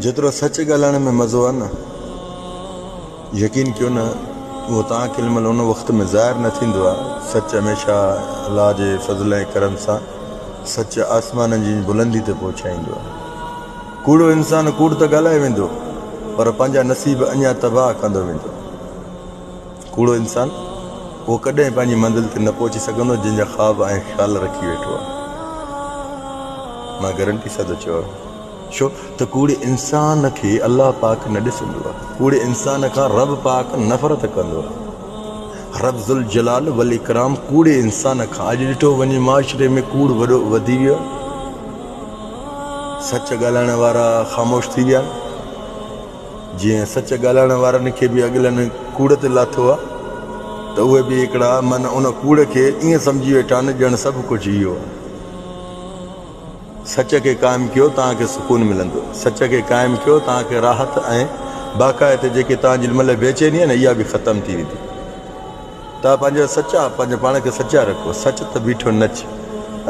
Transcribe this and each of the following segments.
جيترو سچ ڳالهائڻ ۾ مزو آهي نه، يقين ڪيو نه اهو توهان کي علم ان وقت ۾ ظاهر نه ٿيندو آهي. سچ هميشه الله جي فضل ۽ ڪرم سان سچ آسمانن جيئن بلندي تي پهچائيندو آهي. ڪوڙو انسان ڪوڙ ته ڳالهائي ويندو پر پنهنجا نصيب اڃا تباهه ڪندو ويندو. ڪوڙو انسان اهو ڪڏهن پنهنجي منزل تي نه پهچي سگهندو جنهن جا خواب ۽ خيال رکي ويٺو آهي. مان گرنٽي سان ٿو چوان. ڇو ته ڪوڙي انسان کي الله پاڪ نه ڏسندو آهي، ڪوڙي انسان کان رب پاڪ نفرت ڪندو آهي. رب ذوالجلال والاڪرام ڪوڙي انسان کان اڄ ڏٺو وڃي معاشري ۾ ڪوڙ وڏو وڌي ويو آهي، سچ ڳالهائڻ وارا خاموش ٿي ويا آهن، جيئن سچ ڳالهائڻ وارن کي به اڳلن ڪوڙ تي لاٿو آهي ته اهي به هڪڙا من ان ڪوڙ کي ائين سمجهي ويٺا آهن ڄڻ سڀ ڪجهه اهو آهي. سچ کي قائم ڪيو توهان کي سڪون ملندو سچ کي قائم ڪيو توهان کي راحت ۽ باقاعد تي جيڪي توهان جي دل ۾ بيچيني آهي نه اها به ختم ٿي ويندي توهان پنهنجا سچا پنهنجي پاڻ کي سچا رکو سچ ته بيٺو نچ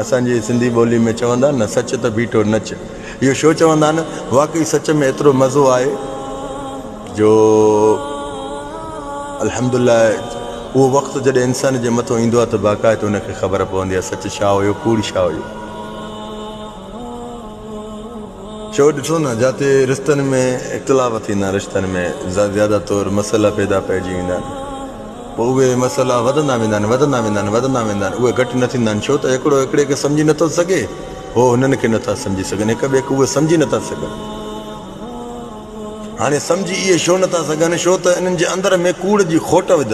اسان جي سنڌي ٻولي ۾ چوندا آهن نه سچ ته بيٺو نچ اهو شو چوندا آهن واقعي سچ ۾ ايترو مزو آهي جو الحمدلله اهو وقت جڏهن انسان جي مٿو ايندو آهي ته باقاعد ان کي خبر پوندي آهي سچ ڇا هيو ڪوڙ ڇا هيو چئو ڏٺو نه جاتي رشتن ۾ اختلاف ٿيندا رشتن ۾ زياده طور مسئلا پيدا پئجي ويندا آهن پوء اهي مسئلا وڌندا ويندا آهن وڌندا ويندا آهن وڌندا ويندا آهن اهي گهٽ نه ٿيندا آهن ڇو ته هڪڙو هڪڙي کي سمجهي نٿو سگهي هو هنن کي نٿا سمجهي سگهن هڪ ٻئي کي اهي سمجهي نٿا سگهن هاڻي سمجهي اهي ڇو نٿا سگهن ڇو ته انهن جي اندر ۾ ڪوڙ جي کوٽ وڌل